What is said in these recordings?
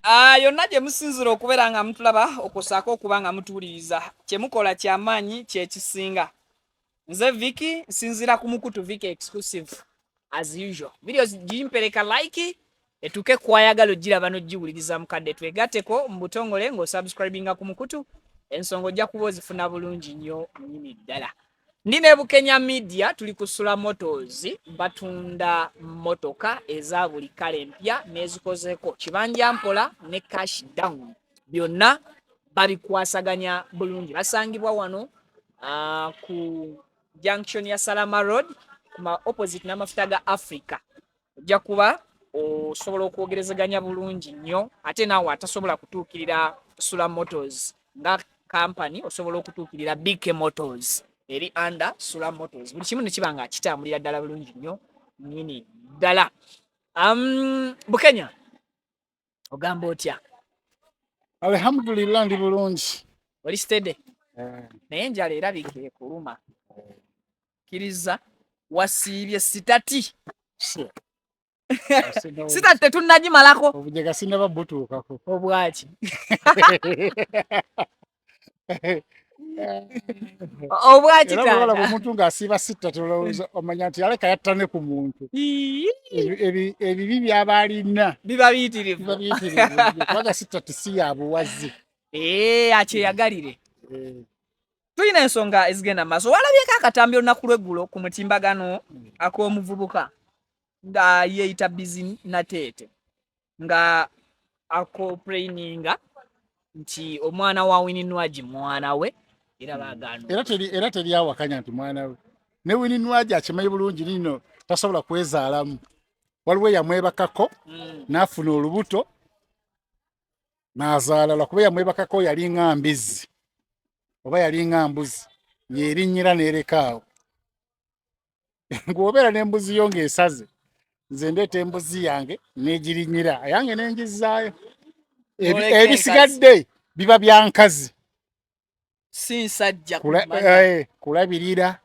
Ah, yonna gye musinzira okubeera nga mutulaba okusaako okuba nga mutuwuliriza kye mukola kyamaanyi kyekisinga nze viki nsinzira ku mukutu viki exclusive as usual video gimpereka like etuuke kwayagala ogiraba nogiwuliriza mukadde twegateko mu butongole ng'osubscribinga ku mukutu ensonga ojja kuba ozifuna bulungi nnyo nyini ddala Ndi ne Bukenya Media tuli ku Sula Motors batunda motoka eza buli kala empya n'ezikozeko kibanja mpola ne cash down byonna babikwasaganya bulungi. Basangibwa wano uh, ku junction ya Salama Road kuma opposite n'amafuta ga Africa. ojja kuba osobola okwogerezeganya bulungi nnyo ate naawe atasobola kutuukirira sula motors nga kampani osobola okutuukirira bk motors eri under sula motors buli kimu nekiba nga kitambulira ddala bulungi nnyo nyini ddala um, bukenya ogamba otya alhamdulillah ndi bulungi oli stede eh. naye enjala erabika ekuluma eh. kiriza wasiibye sitati sita tetunagimalako obujega sinaba butuukako obwaki obwakitanda omuntu ng'asiiba sitta tolowooza omanya nti yaleka yatta ne ku muntu ebibi byaba alina biba biyitirivu kubanga sitta tisi ya buwazi eh, akyeyagalire eh. tulina ensonga ezigenda mu maaso walabyeko akatambi olunaku lweggulo ku mutimbagano ak'omuvubuka nga yeeyita bizinateete nga akoplaininga nti omwana wa wininwagi mwana we era hmm. bagaana era teri awakanya nti mwana we ne wininwagi akimanyi bulungi nino tasobola kwezaalamu waliwo yamwebakako hmm. n'afuna olubuto n'azaala lwakuba yamwebakako yalinga mbizzi oba yalinga mbuzi yerinnyira n'erekaawo ng'obeera n'embuzi yo ng'esaze nze ndeeta embuzi yange n'egirinyira yange n'engizzaayo ebisigadde biba bya nkazi si nsajja eh, kulabirira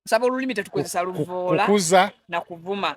nsaba olulimi tetukozesa luvoola kukuza na kuvuma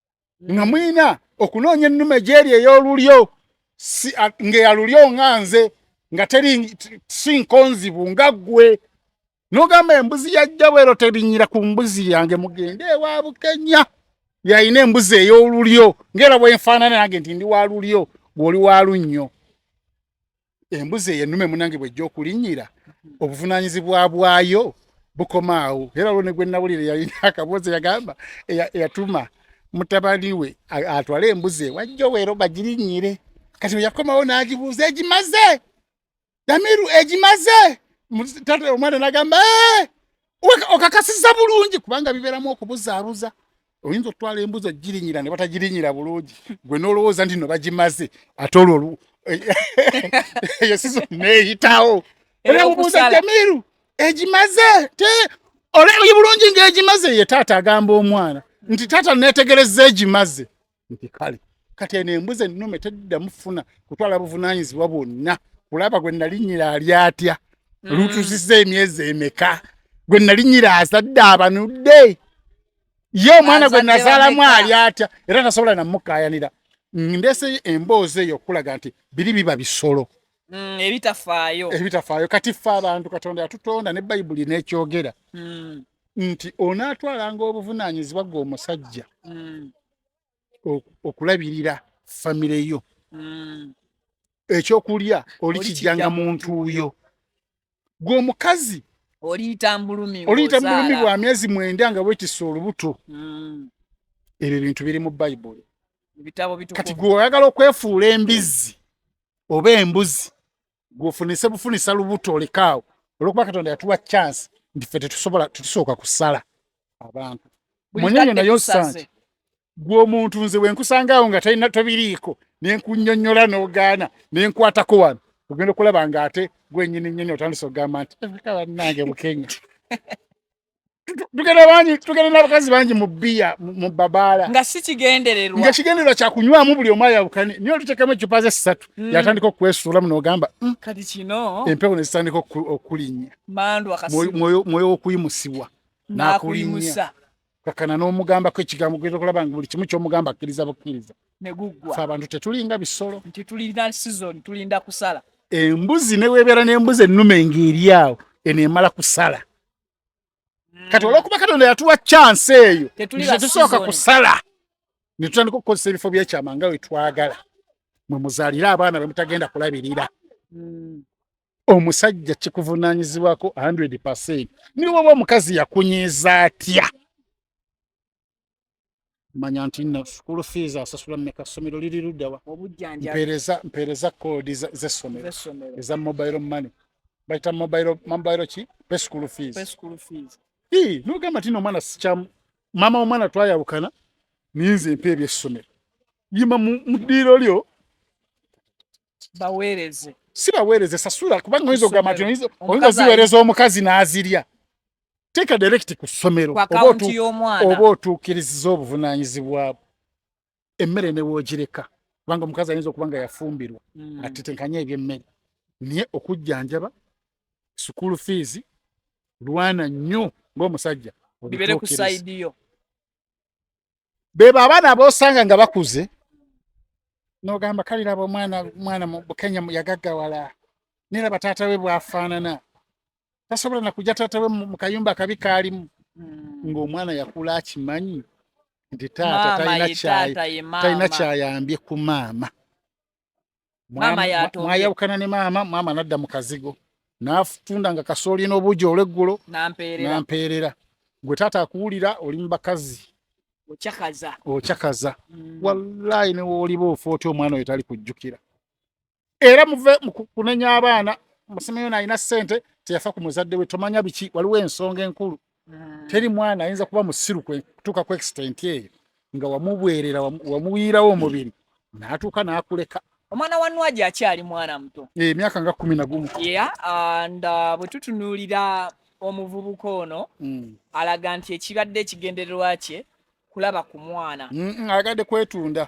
nga mulina okunoonya ennume gyeri ey'olulyo ng'eyalulyo nga nze nga teri si nkonzibu nga ggwe nogamba embuzi yajja bwero terinyira ku mbuzi yange mugende ewa bukenya yalina embuzi ey'olulyo ng'era bwenfaanana nange nti ndi wa lulyo bw'oli wa lunnyo embuzi eyo ennume munange bwejja okulinnyira obuvunaanyizibwa bwayo bukomaawo era olwo ne gwe nnawulire yalina akaboozi yagamba eyatuma mutabani we atwale embuzi ewajja oweero bagirinnyire kati bwe yakomawo n'agibuuza egimaze damiru egimaze omwana n'agamba ee eh! okakasiza bulungi kubanga biberamu okubuzaabuza oyinza okutwala embuzi ogirinyira ne batagirinyira bulungi gwe nolowooza nti no bagimaze ate olwo eyo sizo neyitawo era obuuza jamiru egimaze te olabye bulungi ngaegimaze ye taata agamba omwana nti taata netegereza egimaze nti kale kati eno embuzi ennume teddamu funa kutwala buvunaanyizibwa bwonna kulaba gwe nalinyira ali atya mm. lutusiza emyezi emeka gwe nalinyira azadde abanudde ye omwana gwe nazaalamu ali atya era tasobola namukaayanira ndese emboozi eyo okulaga nti biri biba bisolo Mm, ebitafaayo ebitafaayo kati ffe abantu katonda yatutonda ne bayibuli nekyogera mm. nti onaatwalanga obuvunaanyizibwa gwe omusajja mm. okulabirira famire yo mm. ekyokulya olikijjanga mu ntuuyo gwe omukazi oliyita mbulumi oliyita mbulumi bwa myezi mwenda nga bwekisa olubuto mm. ebyo bintu biri mu bayibuli kati gwe oyagala okwefuula embizzi oba embuzi gwofunise bufunisa lubuto olekaawo olwokuba katonda yatuwa chance nti fe tetusobola tetusooka kusala abantu munyenye naye osanti gwomuntu nze wenkusangaawo nga talina tobiriiko nenkunyonyola nogaana nenkwatako wano ogenda okulaba nga ate gwenyini nyini otandisa okugamba nti ebika bannange bukenya tugenda bangi tugenda n'abakazi bangi mu bbiya mu babaala nga si kigendererwa nga kigendererwa kya kunywamu buli omu ayawukane naye oluteekamu eccupa ze ssatu mm. yatandika okwesuulamu n'ogamba mm, kati kino empewo ne zitandika okulinnya mwoyo w'okuyimusibwa n'akulimusa kakana n'omugambako ekigambo gweta okulaba nga buli kimu ky'omugamba akkiriza bukkiriza fe abantu tetulinga bisolo nti tulina sizoni tulinda kusala embuzi neweebeera n'embuzi ennume ng'eri awo eno emala kusala mm. kati olwokuba katonda yatuwa chance eyo tetusooka kusala ne tutandika okukozesa ebifo byekyama nga wetwagala mwe muzalire abaana bemutagenda kulabirira mm. omusajja kikuvunanyizibwako 100 niwoba omukazi yakunyiza atya manya nti na school fees asasula meka somero liri ludawa obujanja pereza pereza code za, za somero za mobile money baita mobile mobile chi pe school fees pe school fees hi no gamba tino mwana sicha mama omwana twaya bukana ninze mpe bye somero yima mudiro lyo baweereze si baweereze sasula kubanga oyinza okugamba nti oyinza oziweereza omukazi n'azirya teeka direkiti ku ssomero oba otuukiriziza obuvunaanyizibwa bwo emmere ne woogireka kubanga omukazi ayinza okuba nga yafumbirwa hmm. atetenkanya ebyemmere naye okujjanjaba sukuulu fiizi lwana nnyo ng'omusajja bibeere ku sayidi yo bebo abaana abosanga nga bakuze nogamba kale laba omwana mwana bukenya yagaggawala naye laba taata we bwafaanana tasobola nakuja taata we mu kayumba akabi kaalimu hmm. ng'omwana yakula akimanyi nti taata talina kyayambye ku maama maama yato mwayawukana ne maama maama nadda mu kazigo n'atunda nga kasooli n'obuugi olweggulo n'ampeerera gwe taata akuwulira oli mu bakazi okyakaza okyakaza mm. wallaayi ne wooliba ofa otya omwana oyo tali kujjukira era muve kunenya abaana musimiyo nalina ssente teyafa ku muzadde we tomanya biki waliwo ensonga enkulu mm. teri mwana ayinza kuba musiru kutuuka ku extent eyo nga wamubwerera wamuwiirawo omubiri natuuka nakuleka omwana wa nwaji akyali mwana muto eh, emyaka nga kumi nagumu yeah, and uh, bwe tutunuulira omuvubuka ono mm. alaga nti ekibadde ekigendererwa kye kulaba ku mwana mm, mm, agadde kwetunda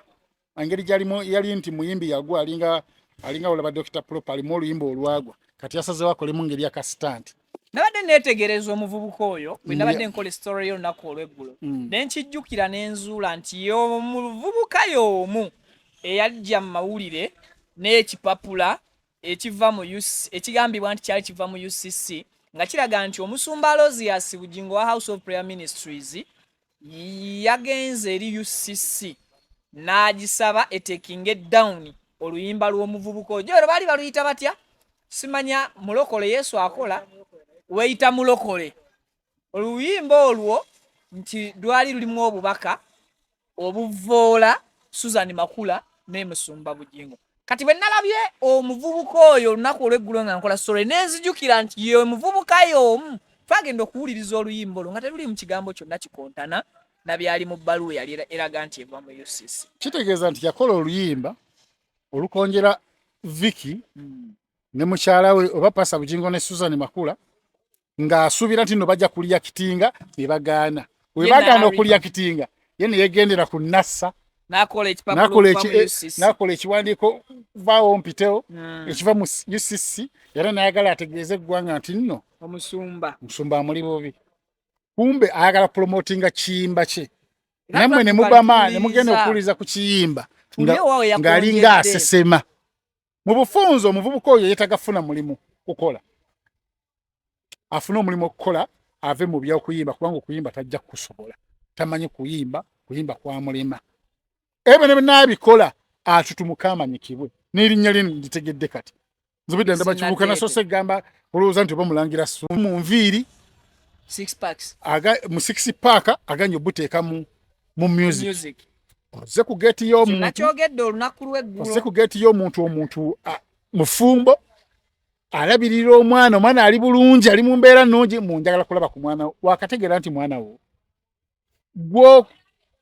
engeri gyalimu yali nti muyimbi yagwa alinga alinga olaba Dr. Prop alimu oluyimba olwagwa kati yasazeewo akolemu ngeri ya kasitaanti nabadde neetegereza omuvubuka oyo bwe nabadde nkola esitory y'olunaku olw'eggulo mm. ne nkijjukira ne nzuula nti yomuvubuka y'omu eyajja mu mawulire n'ekipapula ekiva mu ekigambibwa nti kyali kiva mu ucc nga kiraga nti omusumba alozias bugingo wa house of prayer ministries yagenze eri ucc n'agisaba etekinge down oluyimba lw'omuvubuka ojo ero baali baluyita batya simanya mulokole yesu akola weyita mulokole oluyimba olwo nti lwali lulimu obubaka obuvoola susan makula n'emusumba bugingo kati bwe nalabye omuvubuka oyo olunaku olweggulo nga nkola sore nenzijukira nti ye omuvubuka y'omu twagenda okuwuliriza oluyimba olwo nga teruli mu kigambo kyonna kikontana na byali mu bbaluwa eyali eraga nti eva mu ucc kitegeeza nti yakola oluyimba olukonjera viki hmm. ne mukyala we oba pasa bujingo ne susan makula ng'asuubira nti no bajja kulya kitinga ne bagaana we bagaana okulya kitinga ye ne yegendera ku nassa nakola eh, ekiwandiiko vaawo mpitewo hmm. ekiva mu ucc era nayagala ategeeze eggwanga nti nno omusumba musumba amuli bubi kumbe ayagala promotinga kiyimba kye namwe ne mubama ne mugenda okuwuliza ku kiyimba ng'alinga asesema mu bufunze omuvubuka oyo yetaga funa mulimu kukola afune omulimu okukola ave mu byokuyimba kubanga okuyimba tajja kukusobola tamanyi kuyimba kuyimba kwamulema ebyo ne binaabikola atutumuka amanyikibwe n'erinnya lino nditegedde kati nzibidde ndaba kibuuka nasoose egamba olowooza nti oba mulangira su mu nviiri mu six paaka aganye obuteeka mu mu music oze ku gate yo omuntu nakyogedde olunaku lweggulo oze ku gate yo omuntu omuntu mufumbo alabirira omwana omwana ali bulungi ali mu mbeera nnungi mu njagala kulaba ku mwana wakategeera nti mwana wo gwo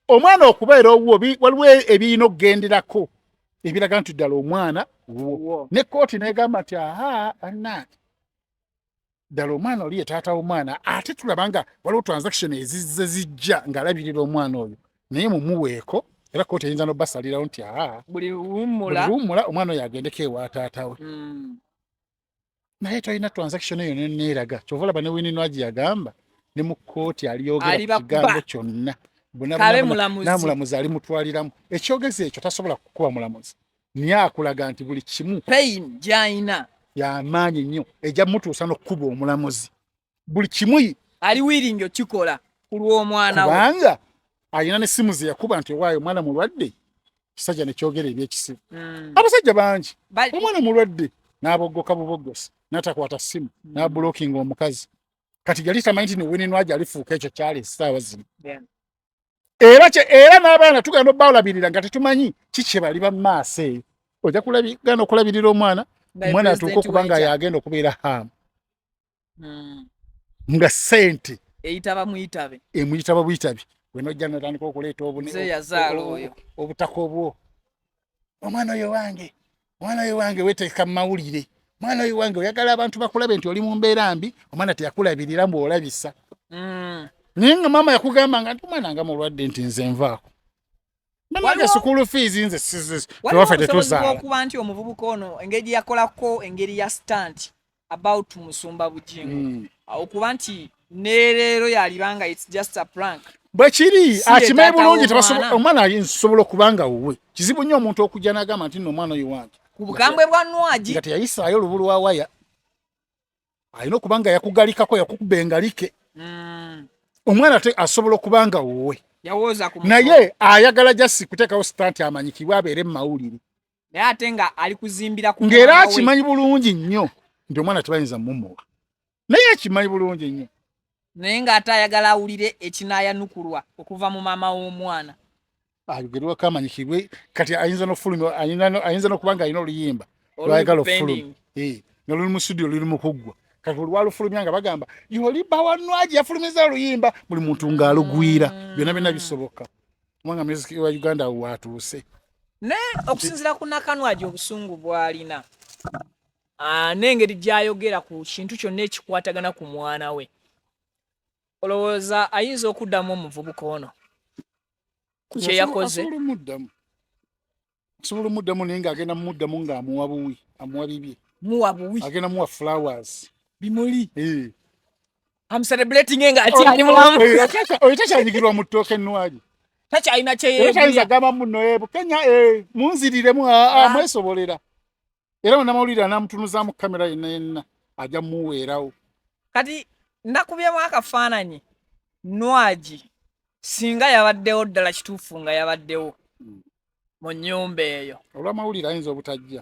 omwana okubeera owuwo waliwo ebiyina okugenderako ebiraga nti ddala omwana wuwo ne kooti negamba nti aha anange ddala omwana oli ye taata w'omwana ate tulaba nga waliwo transaction ezizze zijja ng'alabirira omwana oyo naye mumuweeko era kooti eyinza nobasalirawo nti aa buli luwummula omwana oyo agendeko ewa taata we hmm. naye tolina transaction eyo neneeraga kyova olaba ne wininwagi yagamba ne mu kooti aliyogera kigambo kyonna namulamuzi ali mutwaliramu ekyogezi ekyo tasobola kukuba mulamuzi naye akulaga nti buli kimu pain gyalina yamaanyi nnyo ejja mutuusa n'okukuba omulamuzi buli kimu ali wiringi okikola ku lw'omwana kubanga alina n'essimu ze yakuba nti owaayo omwana mulwadde kisajja nekyogera ebyekisibu mm. abasajja bangi omwana mulwadde n'aboggoka buboggosi n'atakwata ssimu mm. n'abulokinga omukazi kati yali tamanyi nti niwinenwaja alifuuka ekyo kyali esaawa zino era kye era n'abaana tugenda obalabirira nga tetumanyi ki kye bali ba maaso eyo ojja kulabigana okulabirira omwana omwana atuuka okuba nga yagenda okubeera haamu hmm. nga sente eyitaba muyitabe emuyitaba buyitabi wenojja notandika okuleeta obutaka obwo omwana oyo wange omwana oyo wange weteeka mu mawulire omwana oyo wange oyagala abantu bakulabe nti oli mu mbeera mbi omwana teyakulabirira mbu olabisa mm. naye nga maama yakugamba nga nti omwana nga mulwadde nti nze nvaako banange sukulu fees nze siziwaffe tetuzaala okuba nti omuvubuka ono engeri yakolako engeri ya stanti about musumba bujingo mm. okuba nti neleero yalibanga its just a prank bwekiri akimanyi bulungi omwana nsobola okuba nga wuwe kizibu nnyo omuntu okujja nagamba nti noomwana oyo wange ku bukambwe bwa nwagi nga teyayisaayo olubu lwa waya alina okuba nga yakugalikako yakukuba engalike mm. omwana te asobola okuba nga wuwe naye ayagala jasi kuteekawo sita nti amanyikibwa abeere mu mawulire naye ate nga ali kuzimbira ku ngera akimanyi bulungi nnyo nti omwana tebayinza mumuwa naye akimanyi bulungi nnyo naye nga ate ayagala awulire ekinayanukulwa okuva mu maama w'omwana ayogerwa kamanyi kibwe kati ayinza nofulumi ayinza nokuba nga alina oluyimba lwayagala ofulumi noluli mu studio luli mukuggwa kati olwalufulumya nga bagamba yoli bawanwaji yafulumiza oluyimba buli muntu ng'alugwira mm. byonna byonna bisoboka kubanga muziki wa uganda watuuse naye okusinzira ku nakanwagi obusungu bwalina ah, n'engeri gyayogera ku kintu kyonna ekikwatagana ku mwana we olowooza ayinza okuddamu omuvubuka ono kyeyakoze nsobola omuddamu naye ng'agenda mumuddamu ng'amuwa buwi amuwa bibye muwa buwi agenda muwa flowers bimuli eh. am celebrating nga ati ali mulamu oyo takyanyigirwa mu ttooka ennwagi takyalina kyeyeyinza gamba muno ebu kenya eh, munziriremu ah, ah. mwesobolera era munamawulire anamutunuzaamu kamera yenna yenna ajja muweerawo kati ndakubyemu akafaananyi nwagi singa yabaddewo ddala kituufu nga yabaddewo hmm. mu nyumba eyo olwamawulire ayinza obutajja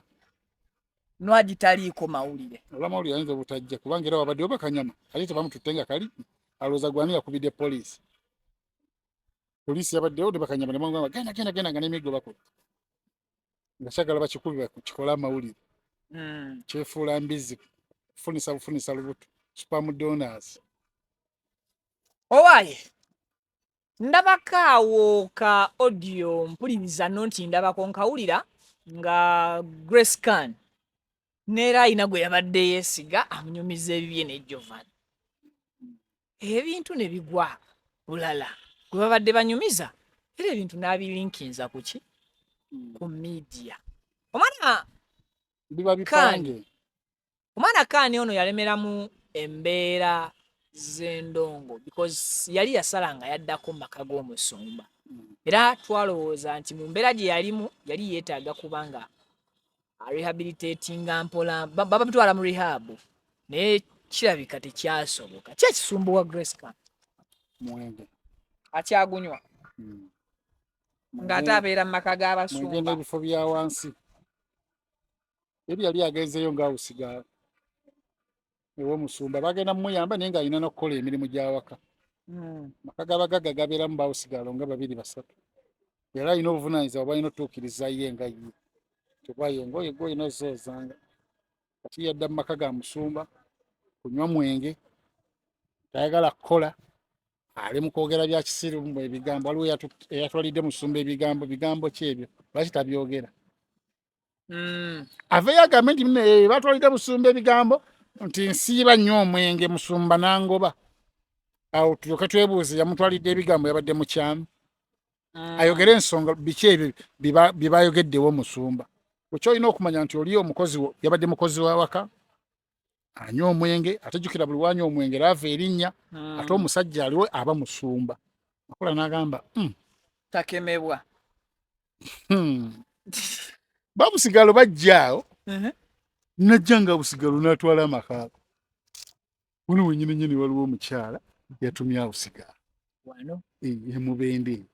nwagi taliiko mawulire olwamawulire ayinza obutajja kubanga era wabaddewo bakanyama ate tebamututte nga kali alowooza gwani yakubidde poliisi poliisi yabaddewo ne bakanyama nemwagamba genda genda genda nga n'emiggo bakutte nga kyagala bakikubira kikole amawulire hmm. kyefuula mbizzi kufunisa bufunisa lubuto supamudonors owaye ndabako awo ka audio mpuliriza no nti ndabako nkawulira nga grace can neera alina gwe yabadde yeesiga amunyumiza ebibye ne jovan ebintu ne bigwa bulala gwe babadde banyumiza era ebintu n'abilinkinza ku ki ku midiya omwana biba bipange omwana kaani ono yalemeramu embeera z'endongo because yali yasala nga yaddako mu maka g'omusumba era twalowooza nti mu mbeera gye yalimu yali yeetaaga kubanga arehabilitatinga mpola baba mtwala mu rehab naye kirabika tekyasoboka ki ekisumbuwa grace ka mwenge akyagunywa hmm. ng'ate abeera mu maka g'abasumba n'ebifo bya wansi ebyo yali agenzeeyo ng'awusiga ewomusumba bagenda mumuyamba naye ng'alina nokukola emirimu gyawaka hmm. maka gabagaga gabeeramu bawusigaalo nga babiri basatu era alina obuvunanyiza obalina otuukiriza ye nga ye tekubaye engoye gwe olina ozoozanga kati yadda mu maka ga musumba kunywa mwenge tayagala kukola ali mu kwogera bya kisiru mu ebigambo waliwo eyatwalidde musumba ebigambo bigambo ki ebyo lwaki tabyogera mm. aveyo agambe nti eh, batwalidde busumba ebigambo nti nsiiba nnyo omwenge musumba nangoba awo tulyoke twebuuze yamutwalidde ebigambo yabadde mukyamu mm. ayogere ensonga biki ebyo byebayogeddewo musumba ekyo olina okumanya nti oli omukozi yabadde mukozi wawaka anywa omwenge ate jukira buli wanywa omwenge laava erinnya hmm. ate omusajja aliwo aba musumba makula n'agamba hmm. takemebwa hmm. babusigalo bajjaawo uh-huh. najja nga busigalo n'atwala amakaabo wano wenyini nyini waliwo omukyala yatumye awo sigala emubende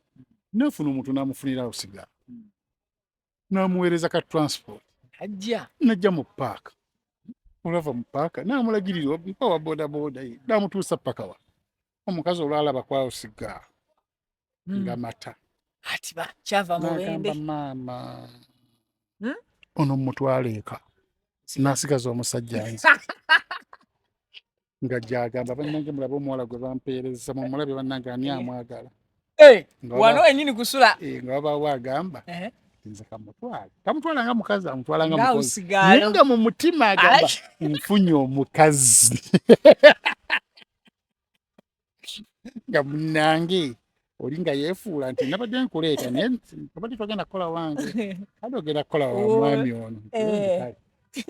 nafuna omuntu namufunira awo sigala namuweereza ka transport ajja najja mu paaka olava mu paaka namulagirira oba wa bodaboda ye namutuusa paka wa omukazi olwalaba kwausiga hmm. nga mata ati bakyava mubende maama hmm? ono mumutwala eka nasigaza omusajja nze nga gyagamba bannange mulabe omuwala gwe bampeereza mumulabe bannange ani eh. amwagala eh, wano enyini kusula eh, nga wabawo agamba nze kamutwala tamutwala nga mukazi amutwala nga mukozi nga mu mutima agamba nfunye omukazi nga munange oli nga yefuula nti nabadde nkuleeta naye abadde twagenda kukola wange ade ogenda kukola wa mwami ono eh.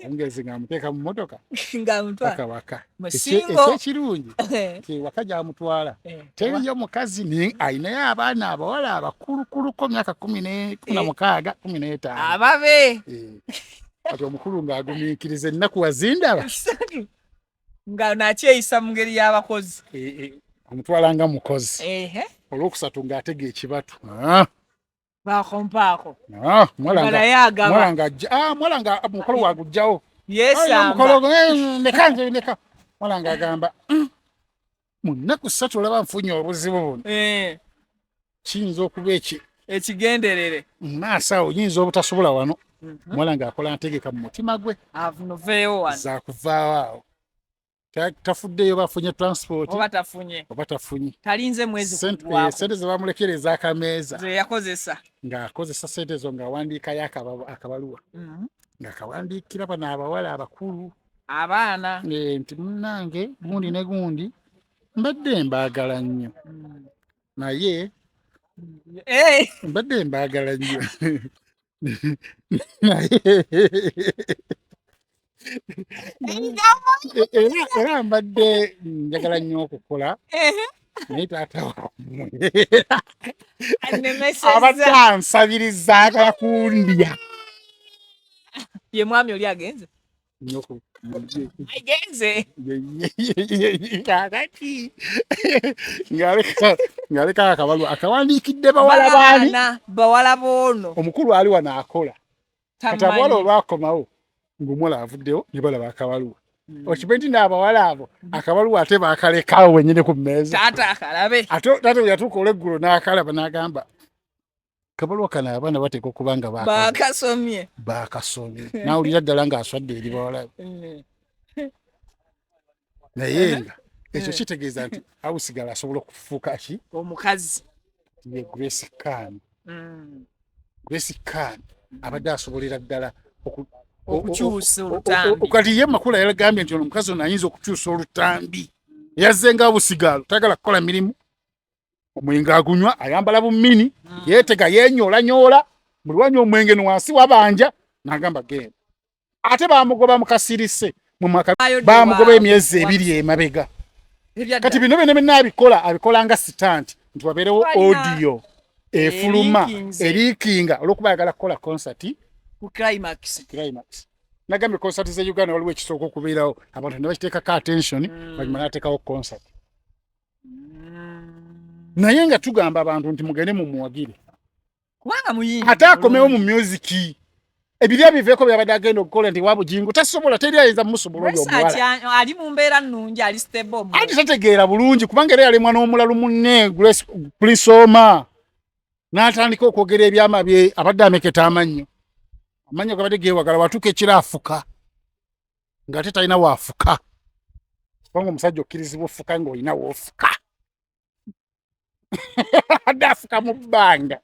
ongezi nga amuteeka mu motoka ngaamutwaka waka ekyekirungi eh. nti waka gyamutwala eh. teriyo mukazi alinayo abaana abawala abakulukuluko myaka kumi na mukaaga kumi n'etaano ababe kati omukulu ng'agumiikiriza ennaku wazindaba nga nakyeyisa mu ngeri y'abakozi eh, eh, omutwala nga mukozi olwokusatu ng'atega ekibatu ah. bakompaako ah, mwala nga ah, mukolo wagujjawo yesamba eh, neka neka mwala nga agamba mm. mu nnaku ssatu olaba nfunye obuzibu buno eh. kiyinza okuba eki ekigenderere maaso awo yinza obutasobola wano mhm. muwala ng'akola ntegeka mu mutima gwe zakuvaawo awo tafuddeyo bafunye transport oba tafunye oba tafunye talinze mwezi sente eh, zebamulekera ezakameeza zeyakozesa ng'akozesa sente ezo ng'awandiikayo akabaluwa mhm. ng'akawandiikira bano abawala abakulu abaana eh, nti munange gundi ne gundi mbadde mbaagala nnyo hmm. naye eh. mbadde mbaagala nnyo naye era mbadde njagala nnyo okukola naye taata wamwe abadde ansabiriza agala kundya ye mwami oli agenze nyoko mubye agenze kakati ngaleka ngaleka akabalu akawandiikidde bawala baani bawala boono omukulu ali wano akola kati abawala olwakomawo ng'omuwala avuddewo ne balaba akabaluwa hmm. okibe nti naabawala abo hmm. akabaluwa ate baakalekawo wenyini ku mmeeza ate yatuuka olweggulo n'akalaba n'agamba kabalwa kano abaana bateeka okuba nga bakasomye bakasomye nawulira ddala nga aswadde eri bawala mm. naye nga ekyo mm. kitegeeza nti awusigala asobola okufuuka ki omukazi ye grace kan mm. grace kan abadde asobolera ddala okukyusa olutambi kati ye makula yagambye nti ono omukazi ono ayinza okukyusa olutambi yazze nga abusigaalo tayagala kukola mirimu omwenge agunywa ayambala bumini mm. yetega yenyola nyola mulwanya omwenge nwansi wabanja nagamba genda ate bamugoba mukasirise mumaka bamugoba emyezi ebiri emabega kati bino bino bino abikola abikola nga sitant nti waberewo audio efuluma erikinga olwokuba ayagala kukola concert ku climax climax nagambye concert ze uganda waliwo ekisooka okubeerawo abantu nebakiteekako attention mm. banyuma natekawo concert naye nga tugamba abantu nti mugende mumuwagire kubanga muyingi ate akomewo mu music ebiri abiveeko byabadde agenda okukola nti wabujingo tasobola teri ayinza musobola oyo omuwala ali mu mbeera nnungi ali stable anti tategeera bulungi kubanga era yalemwa n'omulalu munne grace prisoma n'atandika okwogera ebyama bye abadde ameketa amannyo amannyo gabadde geewagala watuuka ekiraafuka nga ate talina waafuka kubanga omusajja okkirizibwa ofuka ng'olina woofuka adde afuka mu bbanga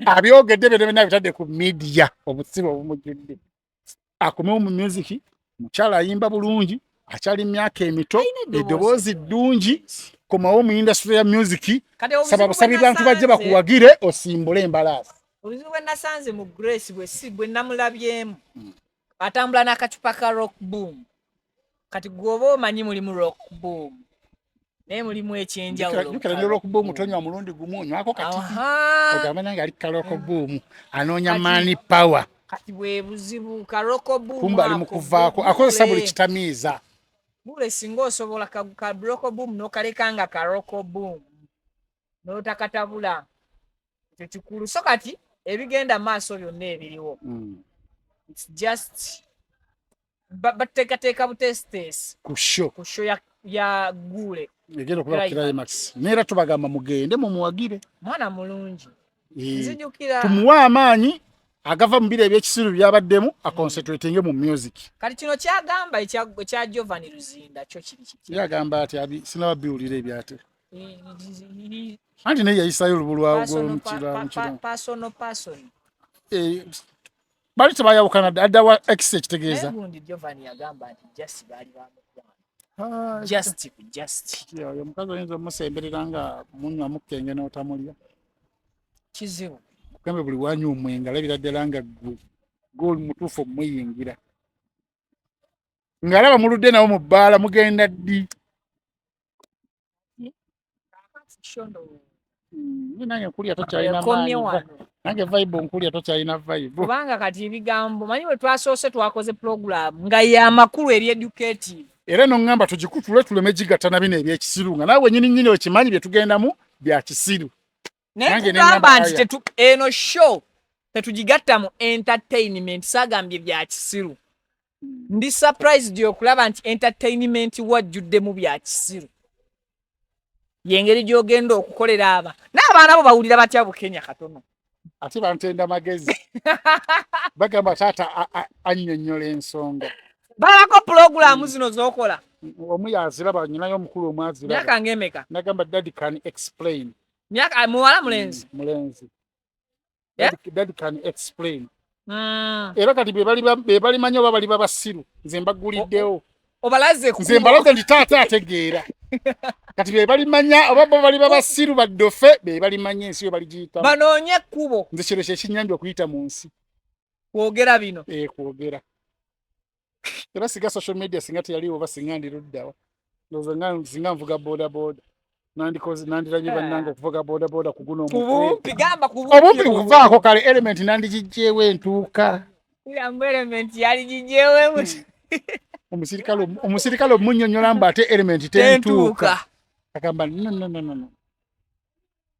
abyogedde byona byona bitadde ku midiya obusibe obumujudde akomewo mu muziki mukyala ayimba bulungi akyali myaka emito eddoboozi ddungi komawo mu indasitule ya muziki saba busabi bantu bajje bakuwagire osimbule embalaasi obuzibu bwe nasanze mu grace bwe namulabyemu hmm. atambula n'akacupa ka rock boom kati gwoba omanyi mulimu rock boom naye mulimu ekyenjawulotonywa mm. mulundi gumu onywako katiogamba nange ali kaloko mm. buumu anoonya mani power kati bwebuzibu kaloko buumkumba ali mukuvaako akozesa buli kitamiiza bule singa osobola kaloko buumu nokaleka nga kaloko buumu notakatabula ekyo kikulu so kati ebigenda maaso byonna ebiriwo mm. its just batekateeka buteesiteesi kusho kusho ya, ya guule egenda okubakirayo maxi neera tubagamba mugende mumuwagire mwana mulungi eh, nzijukira tumuwe amaanyi agava mu biro ebyekisiru byabaddemu aconcentratinge mu music kati kino kyagamba ekya jovan luzinda kyo kiri kiki yagamba ati sinaba biwulira ebyate anti naye yayisayo olubu lwagwomukiramukiropasono pason eh, bali tebayawukana adda wa ex ekitegeeza ah, oyo mukazi oyinza omusemberera nga munywa mukenge n'otamulya kizibu kugamba buli wanywa omwenge alabira ddala nga gwe gooli mutuufu omuyingira ng'alaba muludde nawo mu bbaala mugenda ddi nange nkulya tokyalina maanyi nange vibe nkulya tokyalina vibe kubanga kati ebigambo manyi bwe twasoose twakoze program nga yamakulu eri educative era eno ngamba tugikutule tuleme gigatta na bino ebyekisiru nga nawe wenyini nyini okimanyi byetugendamu bya kisiru naye tugamba nti tetu eno show tetugigatta mu entertainment sagambye bya kisiru ndi surprised okulaba nti entertainment wajjuddemu bya kisiru yengeri gyogenda okukolera aba n'abaana bo bawulira batya bukenya katono ate bantenda magezi bagamba taata annyonnyola ensonga balako pulogulaamu zino zokola omu yaziraba nyinayo omukulu omwaziraba myaka ngemeka nagamba daddy can explain Miaka ah, muwala mm, mulenzi. Mulenzi. Eh? That, that can explain. Mm. Era kati be bali be bali manyo bali baba siru. Nze mbaguliddewo. Obalaze ku. Nze mbalaze ndi tata ategeera. Kati be bali manya oba bo bali baba siru badofe be bali manya ensi yo bali jita. Banonye kubo. Nze kiro kye kinyanja okuyita mu nsi. Kwogera bino. Eh kwogera. era singa social media singa teyaliwo oba singa ndiruddawa ndoza nga singa nvuga boda boda nandikoze nandiranye eh. bannange okuvuga boda boda kuguno kubumpi gamba kubumpi obumpi kuvaako kale element nandigijjeewo entuuka yambu element yali gijjeewo omusirikale omusirikale omunyonyola mba ate element tentuuka agamba no no no no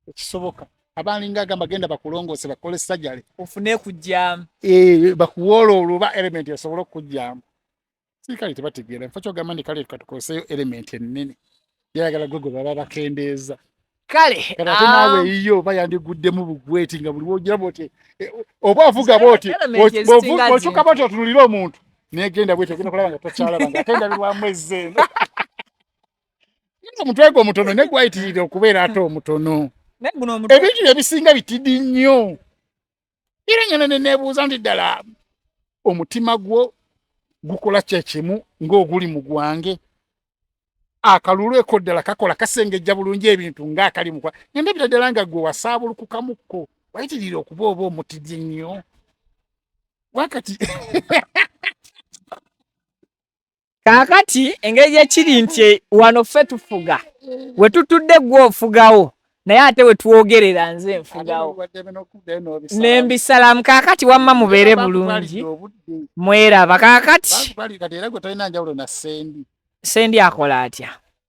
ekisoboka abalinga agamba genda bakulongoose bakole sajale ofune kujjamu eh, bakuwoola oluba element esobola okukujjamu sikale tebategeera nfa kyogamba nti kale katukoseyo element ennene yayagala gwe gwe baba bakendeeza kale ate naawe ah. yiyo oba yandiguddemu bugweti nga buli wogira boti eh, oba ovuga boti okyuka boti otunulire omuntu negenda bweti ogenda kulaba nga tokyalaba nga atendabirwamu ezzeeno omutwe gwo omutono ne gwayitirira okubeera ate omutono ebintu bye bisinga bitidi nnyo era ngana ne nebuuza nti ddala omutima gwo gukola kyekimu ng'oguli mu gwange akalulu eko ddala kakola kasengejja bulungi ebintu ng'akali mukwa ngende bira ddala nga gwe wasaabulukukamukko wayitirira okuba oba omutidi nnyo wakati kaakati engeri gye kiri nti e, wano ffe tufuga we tutudde gwe ofugawo naye ate we twogerera nze nfugawo ne mbisalamu kaakati wamma mubeere bulungi mweraba kaakati sendi akola atya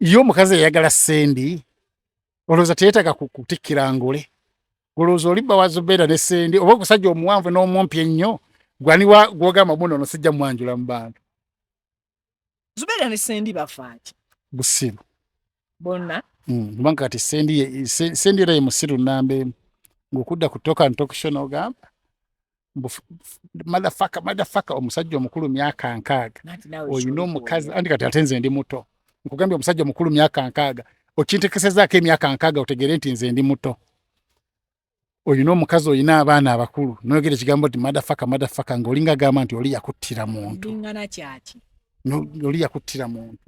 ye omukazi eyagala sendi olowooza teyetaga kutikkira ngule olowooza oli bawa zubeera ne sendi oba okusajja omuwanvu n'omumpi ennyo gwaniwa gwogamba muno ono sijja mwanjula mu bantu zubeera ne sendi bafaaki busiru bonna hmm, kubanga kati sendi sendi era ye musiru namba emu ng'okudda ku toka ntokisho n'ogamba madafaka madafaka omusajja omukulu myaka nkaaga olina omukazi andi kati ate nze ndi muto nkugambye omusajja omukulu myaka nkaaga okintekesezaako emyaka nkaaga otegere nti nze ndi muto olina omukazi olina abaana abakulu noyogera ekigambo nti madafaka madafaka ngaolinga gamba nti oli yakuttira muntu oli yakuttira muntu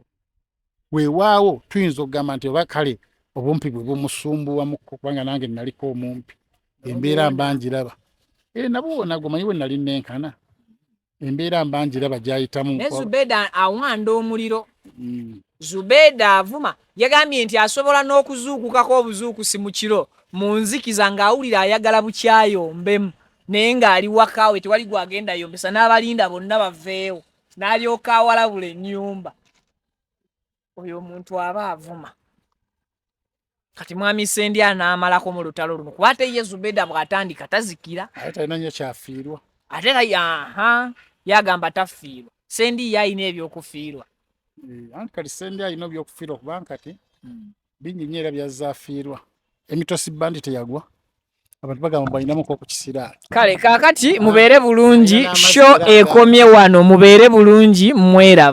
weewaawo tuyinza okugamba nti oba kale obumpi bwe bumusumbuwamu kubanga nange naliko omumpi embeera mba ngiraba e eh, nabwo nagwo manyi we nali nenkana embeera mba ngiraba gyayitamu ne zubeda awanda omuliro mm. zubeda avuma yagambye nti asobola n'okuzuukukako obuzuukusi mu kiro mu nzikiza ng'awulira ayagala bukyayombemu naye ng'ali wakaawe tewali gwagenda yombesa n'abalinda bonna baveewo n'alyoka awalabula ennyumba oyo omuntu aba avuma kati mwami sendi anaamalako mu lutalo luno kuba ate ye zubeda bw'atandika tazikira ate talina nnyo kyafiirwa ate era yaha yagamba tafiirwa sendi ye alina ebyokufiirwa eh, anti kati sendi alina ebyokufiirwa kubanga kati hmm. bingi nnyo era byazaafiirwa emitosi bandi teyagwa abantu bagamba balinamu ku kisiraani kale kaakati mubeere bulungi sho ekomye wano mubeere bulungi mweraba